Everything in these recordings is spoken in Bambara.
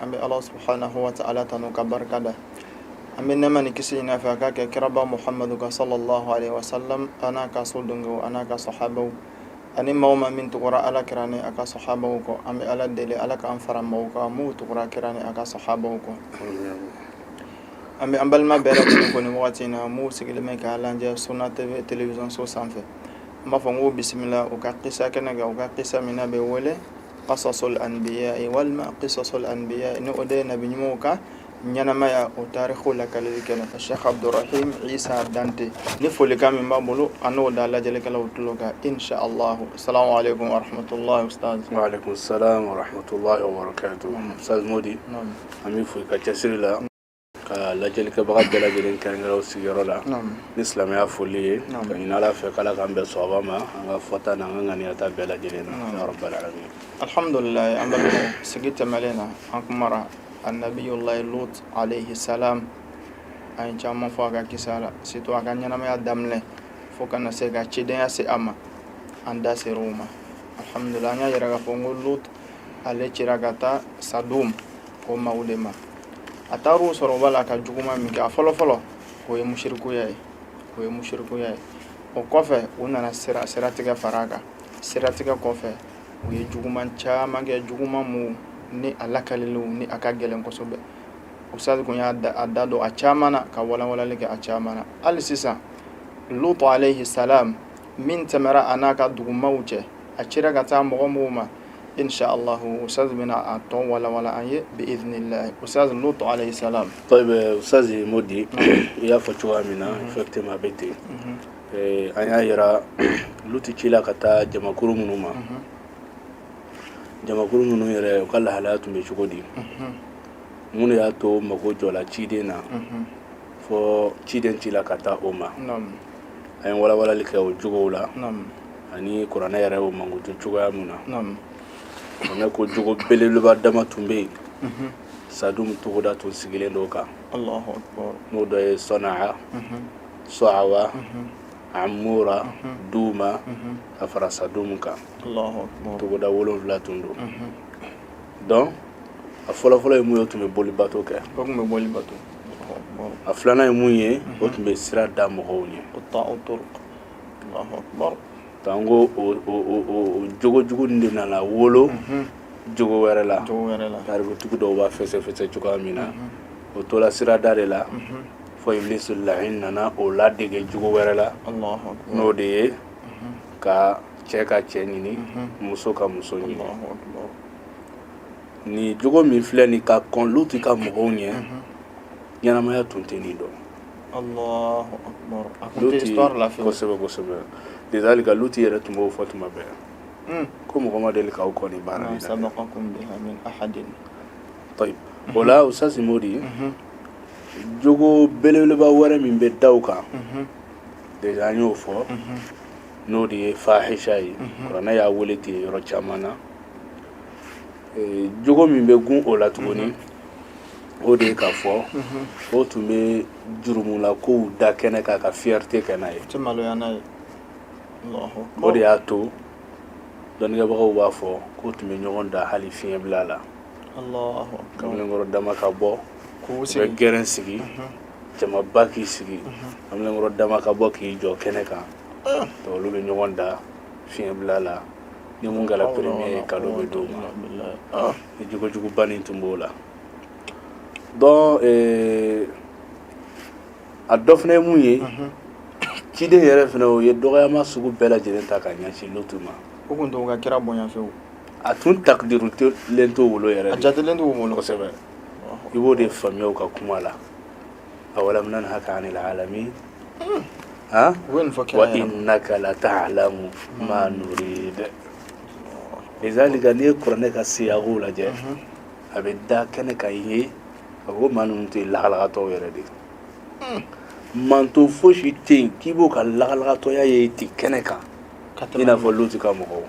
an bɛ ala subahana wa tala tanu ka barika da an bɛ nɛma ni kisi ɲini a fɛ a k'a kɛ kiraba muhamadu kan salalah wa salam an'a ka sodenw an'a ka sahabaw ani maa o maa min tugura ala kira ni a ka sahabaw kɔ an bɛ ala deli ala k'an fara maaw kan maaw tugura kira ni a ka sahabaw kɔ an bɛ an balima bɛɛ lajɛlen kɔni wagati in na maaw sigilen bɛ ka lajɛ suna TV teleso sanfɛ n b'a fɔ n ko bisimila u ka kisa kɛnɛ kan u ka kisa min bɛ wele Kasasul anbiya walima kisasul anbiya ni o de ye nabi ɲumanw ka ɲɛnamaya u taariku lakaleli kɛnɛ asɛki abdurahim isa dante ni folikan min b'a bolo a n'o da lajɛlikɛlaw tulo kan insha Allah asalamu alekum warahmatullah wa alekum salam warahmatullahi wabarakatuh ustaz modi an bɛ foli ka cɛsiri la ka lajɛlikɛbaga bɛɛ lajɛlen kelen kelen u sigiyɔrɔ la ni silamɛya foli ye ka ɲini ala fɛ k'ala k'an bɛn sawaba ma an ka fɔta n'an ka ŋaniyata bɛɛ lajɛlen na ya rabbal alamin alhamdulilayi an balimaw sigi tɛmɛlen na an kumara annabiyulayi lut alayhi salam an ye caman fɔ a ka kisa la surtout a ka ɲɛnamaya daminɛ fo ka na se ka cidenya se a ma an da sera o ma alhamdulilayi an y'a yira k'a fɔ ko lut ale cira ka taa sadum o maaw de ma a taara u sɔrɔ u b'a la ka juguman min kɛ a fɔlɔ fɔlɔ o ye musirikuya ye o ye musirikuya ye o kɔfɛ u nana sira siratigɛ fara a kan siratigɛ kɔfɛ u ye juguman caman kɛ juguman mu ni a lakaliliw ni a ka gɛlɛn kosɛbɛ ustaz kun y'a da don a caman na ka walanwalali kɛ a caman na hali sisan lutu alayhi salam min tɛmɛra a n'a ka dugumaw cɛ a cira ka taa mɔgɔ minnu ma insha Allah ustaz bɛna a tɔ in walawala an ye bi idinilahi ustaz lutu alayhi salam tayib ustaz modi i y'a fɔ cogoya min na effectivement a bɛ ten an y'a yira luti cila ka taa jamakuru minnu ma jamakuru minnu yɛrɛ u ka lahalaya tun bɛ cogo di mun de y'a to mago jɔla ciden na fo ciden cila ka taa o ma an ye walawalali kɛ o jogow la ani kuranɛ yɛrɛ o mankutu cogoya min na kuranɛ ko jogo belebeleba dama tun bɛ yen mhm. sadum togoda tun sigilen don kan n'o dɔ ye sɔna mhm. sɔawa mhm. amura duma ka fara sadum kan togoda wolonfila tun don donc a fɔlɔfɔlɔ ye mun ye u tun bɛ bolibato kɛ a filanan ye mun ye u tun bɛ sira da mɔgɔw ɲɛ an ko jogo jugu de nana wolo jogo wɛrɛ la tarikutigi dɔw b'a fɛsɛfɛsɛ cogoya min na o tola sirada de la fo ibilisi lahin nana o ladege jogo wɛrɛ la n'o de ye ka cɛ ka cɛ ɲini muso ka muso ɲini nin jogo min filɛ nin ka kɔn luti ka mɔgɔw ɲɛ ɲɛnamaya tun tɛ nin dɔn Lizalika luti yɛrɛ tun b'o fɔ tuma bɛɛ yan ko mɔgɔ ma deli k'aw kɔn baara o la u sasinmo de ye jogo belebeleba wɛrɛ min bɛ da o kan de an y'o fɔ n'o de ye fahisa ye ne y'a wele ten yɔrɔ caman na jogo min bɛ gun o la tuguni o de ye k'a fɔ ko o tun bɛ jurumula kow da kɛnɛ kan ka fiyɛrite kɛ n'a ye o de y'a to dɔnnikɛbagaw b'a fɔ k'u tun bɛ ɲɔgɔn da hali fiɲɛbila la kamalenkɔrɔ dama ka bɔ k'u bɛ gɛrɛn sigi jamaba k'i sigi kamalenkɔrɔ dama ka bɔ k'i jɔ kɛnɛ kan olu bɛ ɲɔgɔn da fiɲɛbila la ni min kɛra premier ye kado bɛ d'o ma nin jogojuguba nin tun b'o la donc euh, a dɔ fana ye mun ye ciden yɛrɛ fana o ye dɔgɔyama sugu bɛɛ lajɛlen ta ka ɲɛsin lutu ma o tun t'o ka kira bonya fewu a tun takdirulen t'o bolo yɛrɛ a jatelen t'o bolo kosɛbɛ i b'o de faamuya u ka kuma la awalam nanhaka anil alamin ha wa innaka lata'lamu ma nurid lizalika n'i ye kuranɛ ka siyaku lajɛ a bɛ da kɛnɛ kan i ye a ko maa ninnu tɛ lagalagatɔw yɛrɛ de ye manton fosi tɛ yen k'i b'o ka lagalagatɔya ye ten kɛnɛ kan i n'a fɔ luti ka mɔgɔw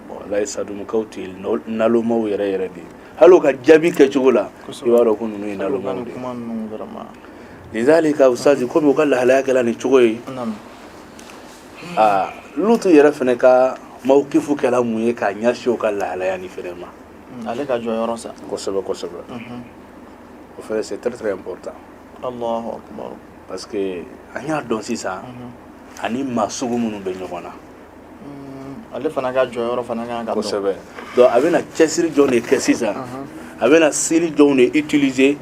walayi sadumukaw tɛ nalomaw yɛrɛ yɛrɛ de ye hali u ka jaabi kɛcogo la i b'a dɔn ko ninnu ye nalomaw de ye lizalika usazi komi u ka lahalaya kɛra nin cogo ye aa lutu yɛrɛ fana ka mawukifu kɛra mun ye k'a ɲɛsin o ka lahalaya nin fana ma hmm, ale ka jɔyɔrɔ sa kosɛbɛ kosɛbɛ mhm. o fana c'est très très important Allahu akbar parce que an y'a dɔn sisan mhm. a ni maa sugu minnu bɛ ɲɔgɔn na hmm, ale fana ka jɔyɔrɔ fana kan ka dɔn kosɛbɛ donc a bɛna cɛsiri jɔn de kɛ sisan mhm. a bɛna sira jɔnw de utiliser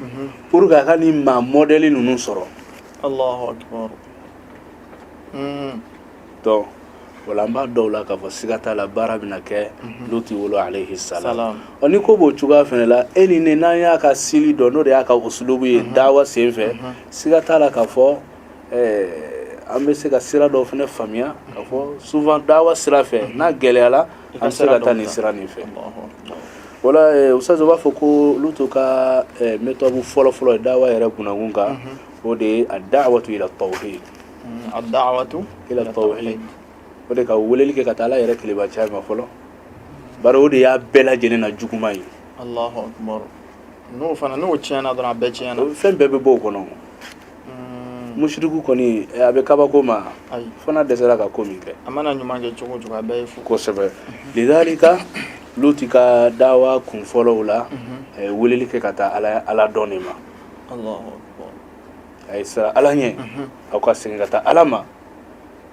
pour que a ka nin maa mɔdɛli ninnu sɔrɔ Allahu akbar donc o la an b'a dɔn o la k'a fɔ siga t'a la baara bɛna kɛ luti bolo alayhi salam ɔ ni ko b'o cogoya fana la e ni ne n'an y'a ka style dɔn n'o de y'a ka usulubu ye dawa sen fɛ siga t'a la k'a fɔ an bɛ se ka sira dɔw fana faamuya k'a fɔ souvent dawa sira fɛ n'a gɛlɛyara an bɛ se ka taa nin sira nin fɛ wala usitazi u b'a fɔ ko lutu ka méthode fɔlɔfɔlɔ dawa yɛrɛ bunakun kan o de ye a da'watu ila tawhid mm, a da'watu ila tawhid o de ka weleli kɛ ka taa ala yɛrɛ kelen batoya ma fɔlɔ bari o de y'a bɛɛ lajɛlen na juguman ye allahu akbar n'o fana n'o tiɲɛna dɔrɔn a bɛɛ tiɲɛna fɛn bɛɛ bɛ bɔ o kɔnɔ mm. musiriku kɔni eh, a bɛ kabako maa fana dɛsɛra ka ko min kɛ a mana ɲuman kɛ cogo cogo a bɛɛ ye fu kosɛbɛ lidalika luti ka dawa kun fɔlɔ la mhm. a ye weleli kɛ ka taa ala dɔn de ma a ye siran ala ɲɛ aw ka segin ka taa ala ma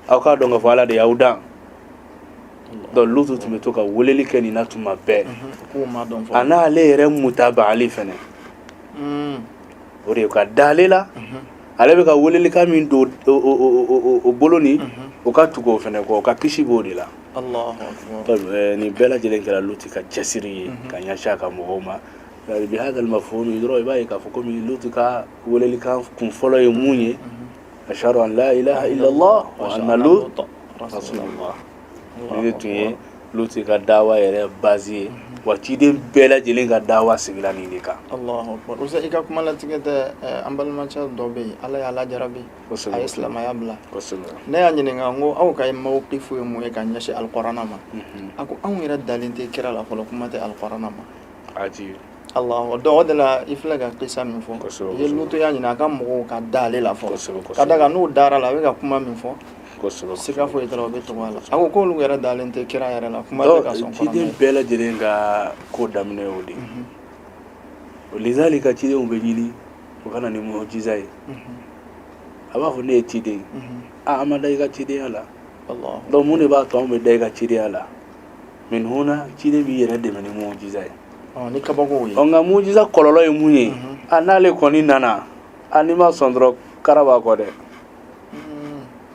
aw k'a dɔn ka fɔ ala de y'aw dan donc lutu tun bɛ to ka weleli kɛ nin na tuma bɛɛ a n'ale yɛrɛ mutabaali fɛnɛ hmm. o de ka da ale la ale bɛ ka welelikan min don o bolo ni o ka tugu o fɛnɛ kɔ u ka kisi b'o de la nin bɛɛ lajɛlen kɛra luti ka cɛsiri ye ka ɲɛsin a ka mɔgɔw ma Bihaza al mafhum dɔrɔn i b'a ye k'a fɔ komi luti ka welelikan kun fɔlɔ ye mun ye a siran ala ɲɛ nin de tun ye luti ka dawa yɛrɛ bazi ye wa ciden bɛɛ lajɛlen ka dawa sigila nin de kan bari i ka kuma latigɛ tɛ an balimacɛ dɔ bɛ yen ala y'a jarabi a ye silamɛya bila ne y'a ɲininka ko aw ka ee mawkifu ye mun ye ka ɲɛsin alkurana ma a ko anw yɛrɛ dalen tɛ kira la fɔlɔ kuma tɛ alkurana ma aji Allah donc o de la i filɛ ka kisa min fɔ i ye lutu y'a ɲini a ka mɔgɔw ka da ale la fɔlɔ ka d'a kan n'u dara a la a bɛ ka kuma min fɔ siga foyi tɛ u bɛ tugu a la a ko k'olu yɛrɛ dalen tɛ kira yɛrɛ la kuma tɛ ka sɔn ciden bɛɛ lajɛlen ka ko daminɛ o de ye lizalika cidenw bɛ ɲini u ka na ni mujiza ye a b'a fɔ ne ye ciden ye an ma da i ka cidenya la donc mun de b'a to anw bɛ da i ka cidenya la mais ninnu na ciden b'i yɛrɛ dɛmɛ ni mujiza ye ɔ ni kabakow ye ɔ nka mujiza kɔlɔlɔ ye mun ye a n'ale kɔni nana a n'i ma sɔn dɔrɔn kara b'a kɔ dɛ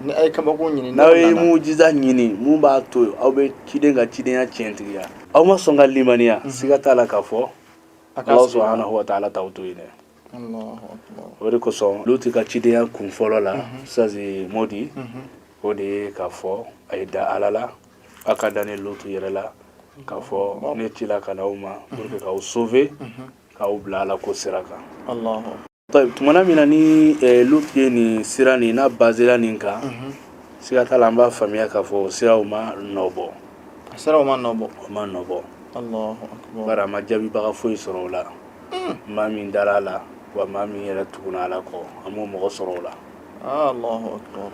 ni a ye kabako ɲini n'aw ye mujiza ɲini mun b'a to aw bɛ ciden ka cidenya tiɲɛtigiya aw ma sɔn ka limaniya siga t'a la k'a fɔ ala subhanahu wa taala t'aw to yen dɛ o de kosɔn luti ka cidenya kun fɔlɔ la usitazi modi o de ye k'a fɔ a ye da ala la aw ka da ne lutu yɛrɛ la k'a fɔ ne ci la ka na aw ma pour que k'aw sauver k'aw bila ala ko sira kan Taib, tumana min na ni eh, lutu ye nin sira nin n'a basera nin kan siga t'a la an b'a faamuya k'a fɔ o siraw ma nɔ bɔ a siraw ma nɔ bɔ o ma nɔ bɔ Allahu akbar. bari a ma jaabibaga foyi sɔrɔ o la maa min dara a la wa maa min yɛrɛ tuguna a la kɔ an m'o mɔgɔ sɔrɔ o la Ah, Allahu akbar.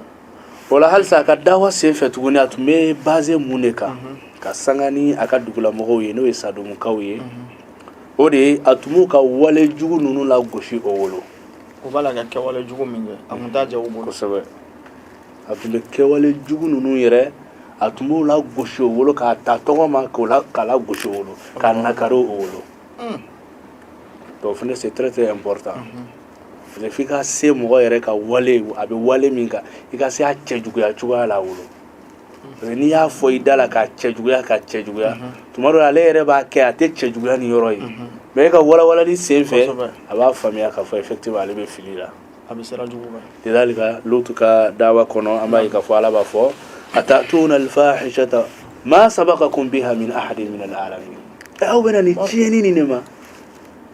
O la halisa a ka dawa sen fɛ tuguni a tun bɛ baser mun de kan ka sanga ni a ka dugulamɔgɔw ye n'o ye sadomukaw ye o de ye a tun b'u ka wale jugu ninnu lagosi u bolo o b'a la ka kɛwale jugu min kɛ a tun ja kosɛbɛ a tun bɛ kɛwale jugu ninnu yɛrɛ a tun b'o lagosi u bolo k'a ta tɔgɔ ma k'o la k'a lagosi u bolo k'a nakari u bolo dawa fana se tɛ bɔra tan f'i ka se mɔgɔ yɛrɛ ka wale a bɛ wale min kan i ka se a cɛjuguya cogoya la u bolo n'i y'a fɔ i da la k'a cɛjuguya k'a cɛjuguya mhm. tuma dɔ ale yɛrɛ b'a kɛ a t'a cɛjuguya nin yɔrɔ ye mhm. mais e ka walawalali sen fɛ a b'a faamuya k'a fɔ effectivement ale bɛ fili la a bɛ sira jugu kan lidalika lutu ka dawa kɔnɔ an b'a ye k'a fɔ ala b'a fɔ atatuna alfahishata ma sabakakum biha min ahadin min alalamin aw bɛ na nin tiɲɛni nin de ma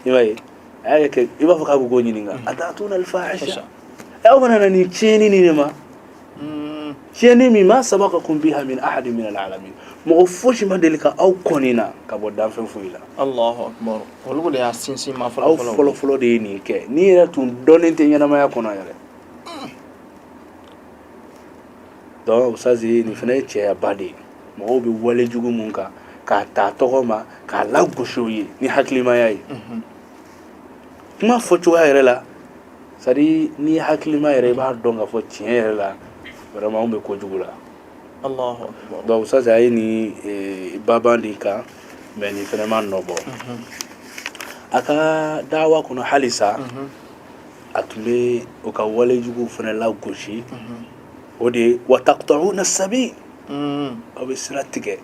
i m'a ye a y'a kɛ i b'a fɔ k'a bɛ k'u ɲininka atatuna alfahisha aw fana nana nin tiɲɛni nin de ma tiɲɛni min ma sabakakum biha min ahadin min alalamin mɔgɔ fosi ma deli ka aw kɔn nin na ka bɔ danfɛn foyi la alahu akbar olu de y'a sinsin ma fɔlɔ aw fɔlɔ fɔlɔ de ye nin kɛ nin yɛrɛ tun dɔnnen tɛ ɲɛnamaya kɔnɔ yɛrɛ donc ça c'est nin fana ye cɛyaba de ye mɔgɔw bɛ wale jugu mun kan k'a ta tɔgɔ ma k'a lagosi u ye ni hakilimaya ye kuma fɔ cogoya yɛrɛ la c'est-à-dire n'i ye hakilima ye i b'a dɔn k'a fɔ tiɲɛ yɛrɛ la vraiment anw bɛ kojugu la Allahu akbar. donc ça c'est a ye nin eh, baban de kan mais nin fana ma nɔ bɔ a ka dawa kɔnɔ halisa a tun bɛ u ka walejuguw fana lagosi o de ye wa taqta'una sabi aw bɛ sira tigɛ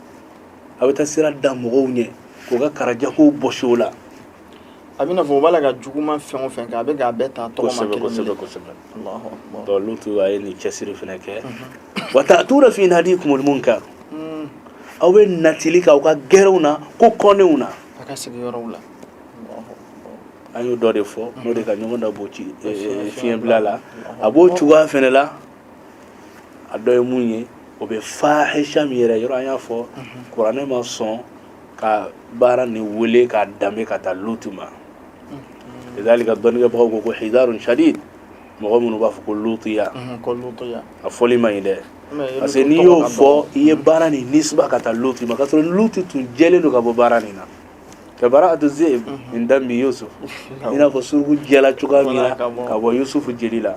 aw bɛ taa sira da mɔgɔw ɲɛ k'u ka garijɛgɛw bɔsi u la a bɛna fɔ u b'a la ka juguman fɛn o fɛn kɛ a bɛ k'a bɛɛ ta tɔgɔma kosɛbɛ kelen kosɛbɛ kelen kosɛbɛ Alahu akbar. donc lutu a ye nin cɛsiri fana kɛ wa ta'tuna fi nadikumul munkar Mm, aw bɛ natili k'aw ka gɛrɛw na ko kɔnnenw na a ka sigiyɔrɔw la Alahu akbar. an y'o dɔ de fɔ n'o de ka ɲɔgɔn da b'o ci eh, eh, fiɲɛbila la a b'o cogoya fana la a dɔ ye mun ye o bɛ fahisha min yɛrɛ yɔrɔ an y'a fɔ kuranɛ ma sɔn ka baara nin wele k'a danbe ka taa lutu ma lidalika dɔnnikɛbagaw ko ko hidarun shadid mɔgɔ minnu b'a fɔ ko lutiya a fɔli man ɲi dɛ parce que n'i y'o fɔ i ye baara nin nisba ka taa lutu ma k'a sɔrɔ lutu tun jɛlen don ka bɔ baara nin na ka bara atu zibi min dami yusufu i n'a fɔ suruku jɛla cogoya min na ka bɔ yusufu jeli la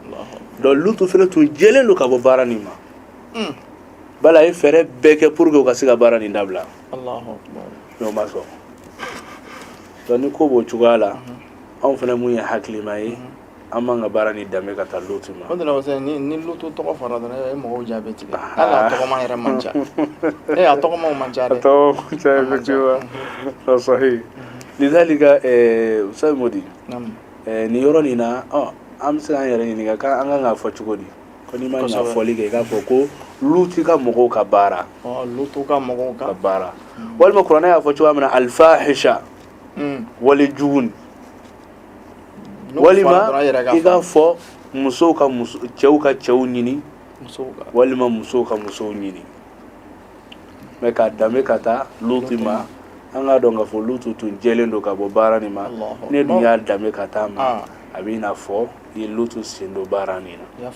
donc lutu fana tun jɛlen don ka bɔ baara nin ma hmm. bal a ye fɛɛrɛ bɛɛ kɛ pour que u ka se ka baara nin dabila n'o ma sɔn donc ni ko b'o cogoya la hmm. anw fana min ye hakilima ye hmm. An man kan ka baara nin danbe ka taa luti ma ni luti tɔgɔ fɔra dɔrɔn mɔgɔw ja bɛ tigɛ o la a tɔgɔ yɛrɛ man ca ee a tɔgɔ man ca lizalika sayimodi nin yɔrɔ nin na an bɛ se k'an yɛrɛ ɲininka an ka kan k'a fɔ cogo di ko n'i mana fɔli kɛ k'a fɔ ko luti ka mɔgɔw ka baara ka mɔgɔw ka baara walima kuranɛ y'a fɔ cogoya min na alfahisha walejugu walima i k'a fɔ musow ka cɛw ka cɛw ɲini walima musow ka musow ɲini mais k'a danbe ka taa luti ma an k'a dɔn k'a fɔ lutu tun jɛlen don ka bɔ baara nin ma n'e dun y'a danbe ka taa a ma ah. a bɛ i n'a fɔ i ye lutu sen don baara nin na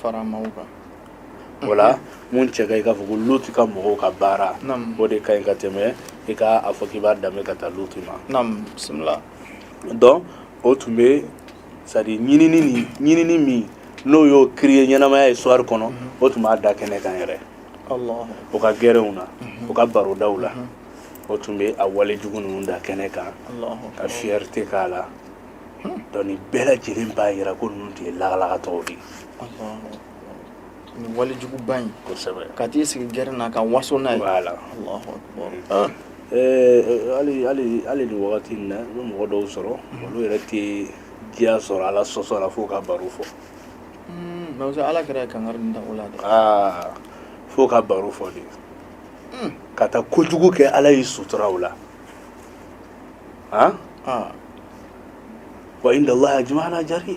o la min cɛ ka ɲi i k'a fɔ ko lutu ka mɔgɔw ka baara o de ka ɲi ka tɛmɛ i ka a fɔ k'i b'a danbe ka taa lutu ma donc o tun bɛ c'est-à-dire ɲinin min n'o y'o ki ye ɲɛnamaya ye suwari kɔnɔ o tun b'a da kɛnɛ kan yɛrɛ o ka gɛrɛw na u ka barodaw la o tun bɛ a wale jugu ninnu da kɛnɛ kan ka fierté k'a la donc nin bɛɛ lajɛlen b'a jira ko ninnu tun ye lagalagatɔw de walejuguba in ka t'i sigi gɛrɛ na ka waso n'a ye la hali nin wagati na an bɛ mɔgɔ dɔw sɔrɔ olu yɛrɛ tɛ diya sɔrɔ ala sɔsɔ la fo ka baro fɔ ala kɛra kan da la aa fo ka baro fɔ de ka taa kojugu kɛ ala y'i sutura o la a wa indallah a jumɛn jaabi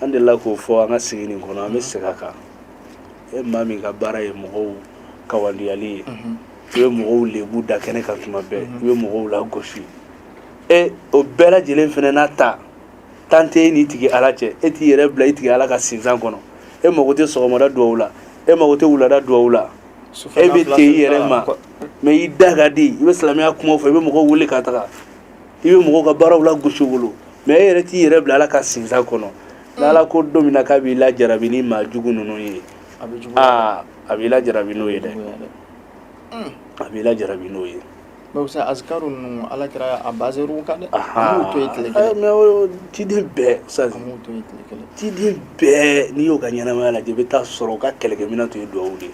an dela k'o fɔ an ka sigi nin kɔnɔ an bɛ segin a kan e maa min ka baara ye mɔgɔw kawandiyali ye i bɛ mɔgɔw lebu da kɛnɛ kan tuma bɛɛ i bɛ mɔgɔw lagosi e o bɛɛ lajɛlen fana n'a ta n'e n'i tigi ala cɛ e t'i yɛrɛ bila i tigi ala ka sinsan kɔnɔ e mago tɛ sɔgɔmada duwawu la e mago tɛ wulada duwawu la e bɛ ten i yɛrɛ ma mais i da ka di i bɛ silamɛya kuma fɔ i bɛ mɔgɔw wele ka taga i bɛ mɔgɔw ka baaraw lagosi wolo mais e yɛrɛ t'i yɛrɛ bila ala ka sinsan kɔnɔ n'ala ko don min na k'a b'i lajarabi ni maa jugu ninnu ye a bɛ jugu aa a b'i lajarabi n'o ye dɛ a b'i lajarabi n'o ye mais ça azikaru ninnu ala kira a bazɛriw kan dɛ an b'u to ye tile kelen mais o ciden bɛɛ sa an b'u to ye tile kelen ciden bɛɛ n'i y'o ka ɲɛnamaya lajɛ i bɛ taa sɔrɔ u ka kɛlɛkɛminɛn tun ye duwawu de ye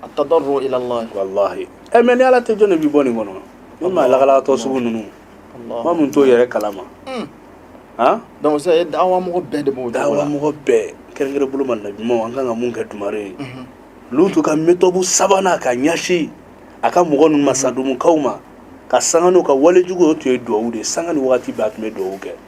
attadarru ila Allah walahi ɛ mais ni ala tɛ jɔn de b'i bɔ nin kɔnɔ ni maa lagalagatɔ sugu ninnu maa mun t'o yɛrɛ kalama han donc sisan e dawa mɔgɔ bɛɛ de b'o dawa mɔgɔ bɛɛ kɛrɛnkɛrɛn bolo ma na ɲumanw an kan ka mun kɛ dumare ye lutu ka méthode sabanan ka ɲɛsin a ka mɔgɔ ninnu ma sadumukaw ma ka sanga n'u ka wale jugu o tun ye duwawu de ye sanga ni wagati bɛɛ a tun bɛ duwawu kɛ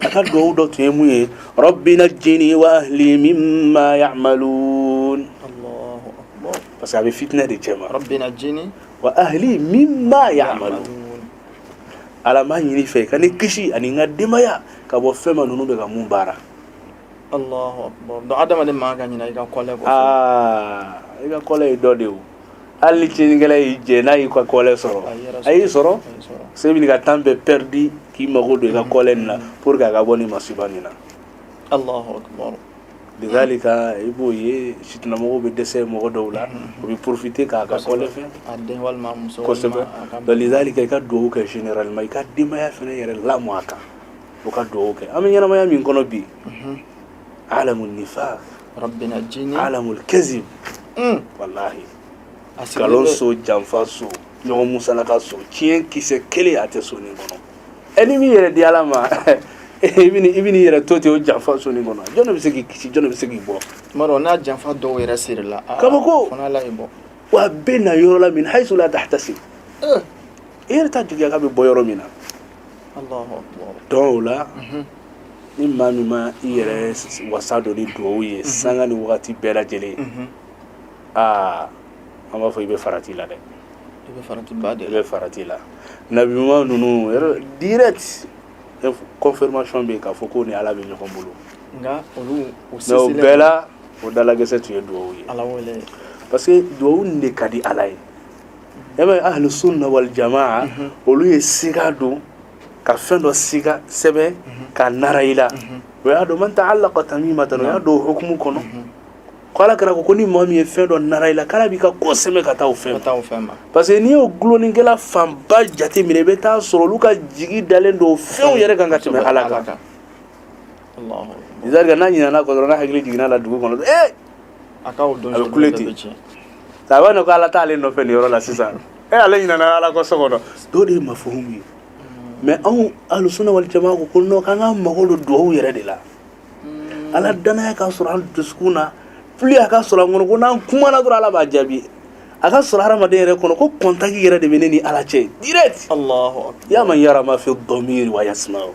a ka dugawu dɔ tun ye mun ye rabbi najini wa ahli mimma ya'malun Allahu akbar parce que a bɛ fitinɛ de cɛma rabbi najini wa ahli mimma ya'malun ala n b'a ɲini i fɛ i ka ne kisi ani n ka denbaya ka bɔ fɛn ma ninnu bɛ ka mun baara Allahu akbar donc adamaden man ka ɲina i ka kɔlɛ kɔ aa i ka kɔlɛ ye dɔ de ye o hali ni tiɲɛnikɛla y'i jɛ n'a y'i ka kɔlɛ sɔrɔ a y'i sɔrɔ se bɛ ka temps bɛɛ pɛridi k'i mago don i ka kɔlɛ nin na pour que a ka bɔ nin masiba nin na lidalika i b'o ye fitinamɔgɔw bɛ dɛsɛ mɔgɔ dɔw la o bɛ porofite k'a ka kɔlɛ fɛ kosɛbɛ lidalika i ka dugawu kɛ généralement i ka denbaya fana yɛrɛ lamɔ a kan o ka dugawu kɛ an bɛ ɲɛnamaya min kɔnɔ bi alamu nifaq rabbi najini alamu kazib mm. wallahi nkalon so janfa so ɲɔgɔn musalaka so tiɲɛ kisɛ kelen a tɛ so nin kɔnɔ ɛ n'i m'i yɛrɛ di ala ma i bɛ i bɛn'i yɛrɛ to ten o janfa so nin kɔnɔ jɔn de bɛ se k'i kisi jɔn de bɛ se k'i bɔ. tuma dɔw na janfa dɔw yɛrɛ sirila. kabako fana ala y'i bɔ. wa a bɛ na yɔrɔ la min hayisu la tahtasib. i yɛrɛ t'a jigiya k'a bɛ bɔ yɔrɔ min na. donc o la. Ni maa min ma i yɛrɛ wasa don ni dugawu ye san ni waati bɛɛ lajɛlen aa an b'a fɔ i bɛ farati la dɛ bɛ farati la nabiɲuman ninnu confirmation bɛ k'a fɔ k'o ni ala bɛ ɲɔgɔn bolo nka olu bɛɛ la o dalakisɛ tun ye dugawu ye ala parce que dugawu de ka di ala ye e bɛ ahlu sunna wal jama olu ye sin don ka fɛn dɔ siga sɛbɛn k'a nara i la o y'a don man ta'allaqa tamimatan o y'a don hukumu kɔnɔ ko ala kira ko ko ni maa min ye fɛn dɔ nara i la k'ala b'i ka ko sɛmɛ ka taa o fɛn parce que n'i y'o dulonikɛla fanba jate minɛ i bɛ taa sɔrɔ olu ka jigi dalen don fɛnw yɛrɛ kan ka tɛmɛ ala kan lidalika n'a ɲinana kɔ dɔrɔn n'a hakili jiginna la dugu kɔnɔ ee a bɛ kule ten a b'a dɔn ko ala t'ale nɔfɛ nin yɔrɔ la sisan e ale ɲinana ala ko so kɔnɔ o de ye mafuhumu ye mais anw alusuna wali jama ko ko non k'an ka mago don duwawu yɛrɛ de la mm. ala danaya ka sɔrɔ an dusukun na fɔlɔ a ka sɔrɔ an kɔnɔ ko n'an kumana dɔrɔn ala b'a jaabi a ka sɔrɔ hadamaden yɛrɛ kɔnɔ ko kɔntaki yɛrɛ de bɛ ne ni ala cɛ direct ya man yara ma fi dɔmiri wa yasmaw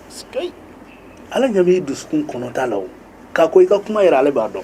ala ɲɛ b'i dusukun kɔnɔta la o k'a ko i ka kuma yɛrɛ ale b'a dɔn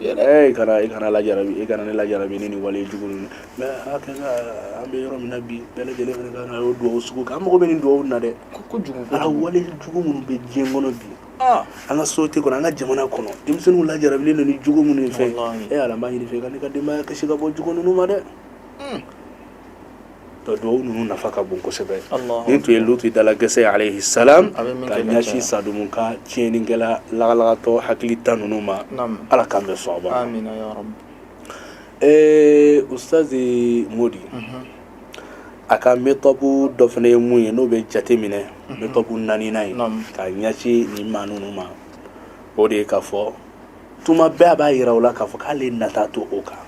Ye kana i kana la i kana ne lajarabi ni nin wale jugu ninnu an bɛ yɔrɔ min na bi bɛɛ lajɛlen ka o dugawu sugu kɛ an mago bɛ nin dugawu na dɛ a wale jugu minnu bɛ diɲɛ kɔnɔ bi an ka sosiyete kɔnɔ an ka jamana kɔnɔ denmisɛnninw lajarabilen nin jugu minnu fɛ e ala n b'a ɲini i fɛ k'an ka denbaya kisi ka bɔ jugu ninnu ma dɛ ka dugawu ninnu nafa ka bon kosɛbɛ nin tun ye lutu da la gɛsɛ ye alayhi salam ka ɲɛsin sadumu ka tiɲɛnikɛla lagalagatɔ hakilintan ninnu ma ala k'an bɛɛ sɔnba ee ustazi modi a ka metɔdu dɔ fana ye mun ye n'o bɛ jate minɛ metɔdu naaninan ye ka ɲɛsin nin maa ninnu ma o de ye k'a fɔ tuma bɛɛ a b'a yira u la k'a fɔ k'ale nata t'u kan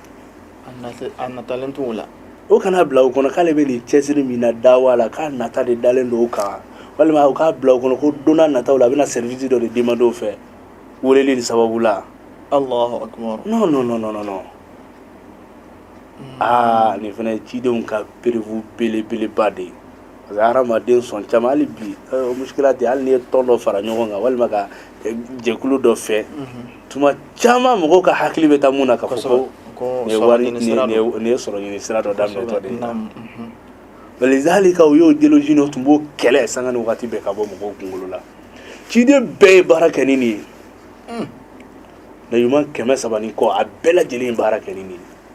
A natalen t'u la u kana a bila u kɔnɔ k'ale bɛ nin cɛsiri min na dawa la k'a nata de dalen don u kan walima u k'a bila u kɔnɔ ko don nataw la a bɛna sɛrivisi dɔ de demande u fɛ weleli nin sababu la aa nin fana cidenw ka perebu belebeleba de ye A bɛ hadamaden sɔn caman hali bi muskila tɛ hali i ye tɔn dɔ fara ɲɔgɔn kan walima ka jɛkulu dɔ fɛ tuma caman mɔgɔw ka hakili bɛ taa min na k'a sɔrɔ i ye sɔrɔ ɲini sira dɔ da lizalika ciden ninnu tun b'o kɛlɛ sanga ni waati bɛɛ ka bɔ mɔgɔw kunkolo la ciden bɛɛ ye baara kɛ ni nin ye maa ɲuman kɛmɛ saba ni kɔ a bɛɛ lajɛlen baara kɛ ni nin ye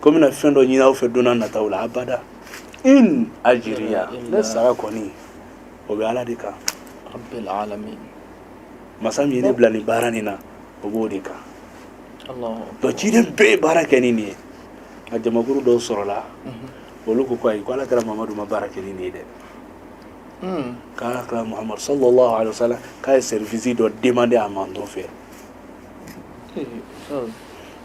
ko bɛna fɛn dɔ ɲini aw fɛ don nataw la abada in ajiriya ne sara kɔni o bɛ ala de kan masa min ye ne bila nin baara nin na o b'o de kan donc ciden bɛɛ ye baara kɛ ni nin ye nka jamakuru dɔw sɔrɔla mhm. olu ko ko ayi ko ala kira mamadu ma baara kɛ ni nin ye dɛ hmm. k'ala kira muhamadu sallallahu alaihi wa sallam k'a ye sɛrifisi dɔ demande a mantɔn fɛ eh, oh.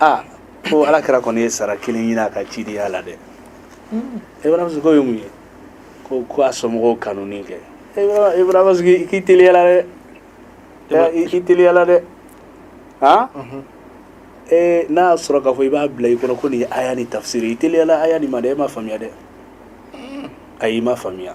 aa ko ala kira kɔni ye sara kelen ɲini a ka cidenya la dɛ ibun abasi ko k'o ye mun ye ko ko a somɔgɔw kanuni kɛ ibun abasi ko k'i teliyala dɛ i k'i teliyala dɛ han ee n'a y'a sɔrɔ k'a fɔ i b'a bila i kɔnɔ ko nin ye aya nin tafsiri i teliyala aya nin ma dɛ e ma faamuya dɛ ayi i ma faamuya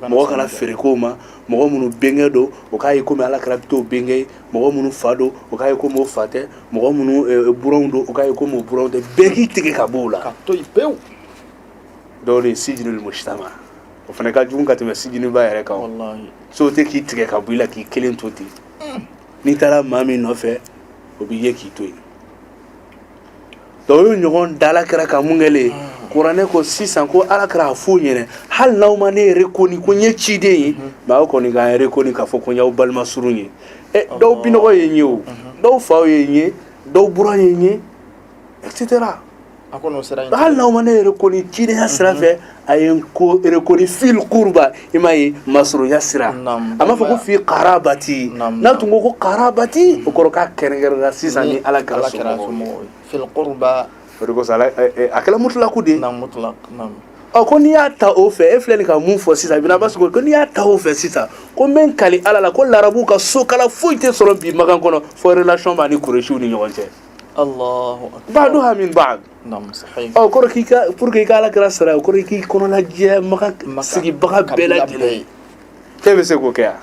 mɔgɔ kana feere k'o ma mɔgɔ minnu bɛnkɛ don o k'a ye komi Ala kira bɛ t'o bɛnkɛ ye mɔgɔ minnu fa don o k'a ye komi o fa tɛ mɔgɔ minnu buranw don o k'a ye komi o buranw tɛ bɛɛ k'i tigɛ ka bɔ o la ka to yen pewu o de ye sijinul mujitama o fana ka jugu ka tɛmɛ sijiniba yɛrɛ kan walahi société k'i tigɛ ka bɔ i la k'i kelen to ten n'i taara maa min nɔfɛ o b'i ye k'i to yen Dɔw ye ɲɔgɔn da Ala kira ka mun kɛlen kuranɛ ko sisan ko Ala kira a f'o ɲɛna hali n'aw ma ne reconnu ko n ye ciden ye mais aw kɔni k'a reconnu k'a fɔ ko n y'aw balima surun ye dɔw binɔgɔ ye n ye o dɔw faw ye n ye dɔw buran ye n ye hali n'aw ma ne reconnu cidenya sira fɛ a ye n reconnu fil qurba i m'a ye masurunya sira a m'a fɔ ko fi karabati n'a tun ko ko karabati o kɔrɔ k'a kɛrɛnkɛrɛnna sisan ni Ala kira somɔgɔw ye fil qurba o de kosɔn a kɛla mutulaku de ye ɔ ko n'i y'a ta o fɛ e filɛ nin ka mun fɔ sisan Ibn Abbas ko n'i y'a ta o fɛ sisan ko n bɛ n kali ala la ko larabuw ka sokala foyi tɛ sɔrɔ bi Maka kɔnɔ fɔ relation b'a ni kuresiw ni ɲɔgɔn cɛ Alahu akibaru baduha min badu namu sahihi o kɔrɔ k'i ka pour que i ka ala kira sara o kɔrɔ i k'i kɔnɔna jɛya Maka sigibaga bɛɛ kabila lajɛlen bɛɛ. ye e bɛ se k'o kɛ yan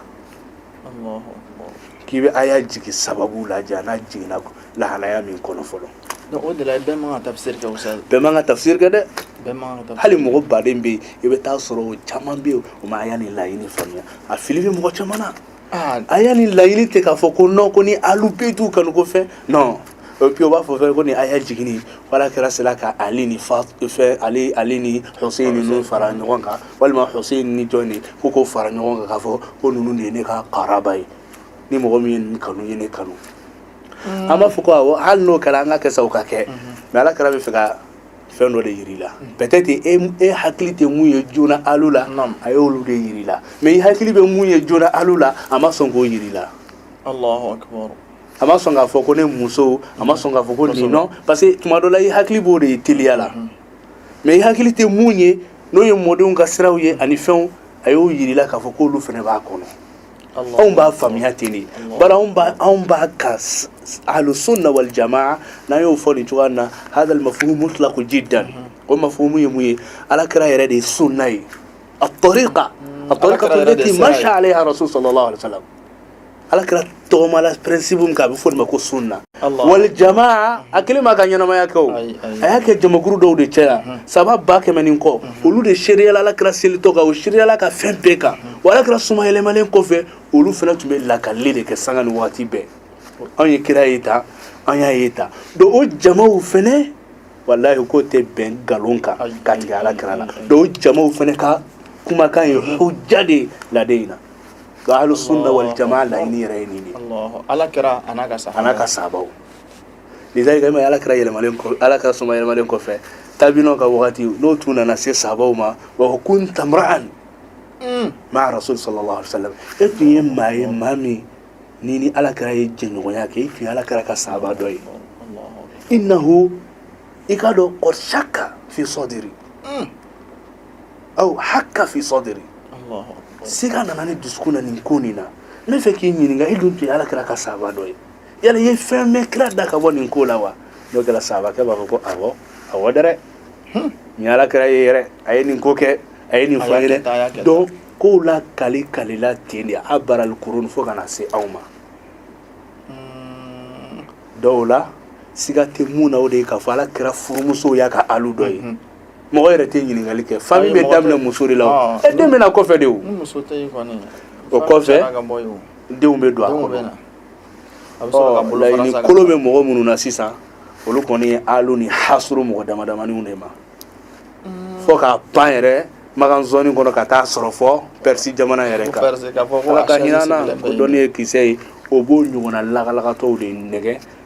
Allahu akbar k'i bɛ aya jigi sababu lajɛ a n'a jiginna lahalaya min kɔnɔ fɔlɔ donc o de la bɛɛ man ka tafsir kɛ ustaz bɛɛ man ka tafsir kɛ dɛ bɛɛ man ka tafsir hali mɔgɔ baden bɛ yen i bɛ taa sɔrɔ o caman bɛ yen o ma aya nin laɲini faamuya a fili bɛ mɔgɔ caman na Aya nin laɲini tɛ k'a fɔ ko nɔn ko ni ahlu bayti kanu ko fɛ nɔn o puis u b'a fɔ fɛ ko nin aya jiginna Ala kira sera ka ali ni fa fɛ ali ali ni ninnu fara ɲɔgɔn kan walima ni jɔn de ko ko fara ɲɔgɔn kan k' fɔ ko ninnu de ye ne ka karaba ye ni mɔgɔ min y'u kanu ye ne kanu an b'a fɔ ko hali n'o kɛra an ka kɛ sa ka kɛ mɛ Ala kira bɛ fɛ ka fɛn dɔ de jira la peut-être e, e hakili tɛ mun ye joona ahlu la a y'olu de jira la mais i hakili bɛ mun ye joona ahlu la a ma sɔn k'o jira la Allahu akbar a ma sɔn k'a fɔ ko ne musow a ma sɔn k'a fɔ ko nin nɔ parce que tuma dɔ la i hakili b'o de ye teliya la mhm. mais i hakili tɛ mun ye n'o ye mɔdenw ka siraw ye ani fɛnw a y'o jira la k'a fɔ k'olu fana b'a kɔnɔ Anw b'a faamuya ten de bara anw b'a ka aliso lawale caman n'a y'o fɔ nin cogoya na ha ma f mu tila ko ji dan o ma fɔ mun ye mun ye ala kɛra yɛrɛ de ye so n'a ye a tɔ kan a tɔ ma sa ale araso sɔrɔ la ala kɛra tɔgɔma la pɛsibo kan a bɛ fɔ ma ko so na wali jama a kelen m'a ka ɲɛnamaya kɛ o a y'a kɛ jamakuru dɔw de cɛ la saaba ba kɛmɛ ni kɔ olu de seereyala ala kira selitɔ kan o seereyala a ka fɛn bɛɛ kan wa ala kira somayɛlɛmalen kɔfɛ olu fɛnɛ tun bɛ lakali de kɛ sanga ni waati bɛɛ anw ye kira ye tan an y'a ye tan donc o jamaw fɛnɛ walahi k'o tɛ bɛn nkalon kan k'a tigɛ ala kira la donc o jamaw fɛnɛ ka kumakan ye hujja de ye ala diinɛ na Donc hali sunna wali caman la ni yɛrɛ ye nin de ala kira ala ka sa ala ka saabaw ni ma ala kira yɛrɛ ala ka somayɛlɛmalen kɔfɛ tabiw ka waati n'u tun nana se saabaw ma wa kun tamara ani maa so sɔrɔ sa e tun ye maa ye maa min ni ni ala kira ye jɛɲɔgɔnya kɛ e tun ala kira ka saaba dɔ ye i na i k'a dɔn kɔsa kan fi sadri aw haka fi sadri siga nana ne dusukun na nin ko nin na ne fɛ k'i ɲininka i dun tun ye ala kira ka saaba dɔ ye yala i ye fɛn mɛn kira da ka bɔ nin ko la wa n'o kɛra saabakɛ b'a fɔ ko awɔ awɔ dɛ hmm. n ye ala kira ye yɛrɛ a ye nin ko kɛ a ye nin fɔ ye dɛ donc kow lakali lakalila ten de abaral kurun fo ka na se aw ma hmm. dɔw la siga tɛ min na o de ye k'a fɔ ala kira furumusow y'a ka alu dɔ ye hmm, mɔgɔ yɛrɛ tɛ ɲininkali kɛ fami bɛ daminɛ muso de la e den bɛ na kɔfɛ de o o kɔfɛ denw bɛ don a kɔnɔ ɔ kolo bɛ mɔgɔ minnu na sisan olu kɔni ye alu nin hasuru mɔgɔ dama damaniw de ma mm. fo k'a pan yɛrɛ makan zɔni kɔnɔ ka taa sɔrɔ fɔ pɛrisi jamana yɛrɛ kan ala ka hinɛ an na ko dɔnni ye kisɛ ye o b'o ɲɔgɔnna lagalagatɔw de nɛgɛn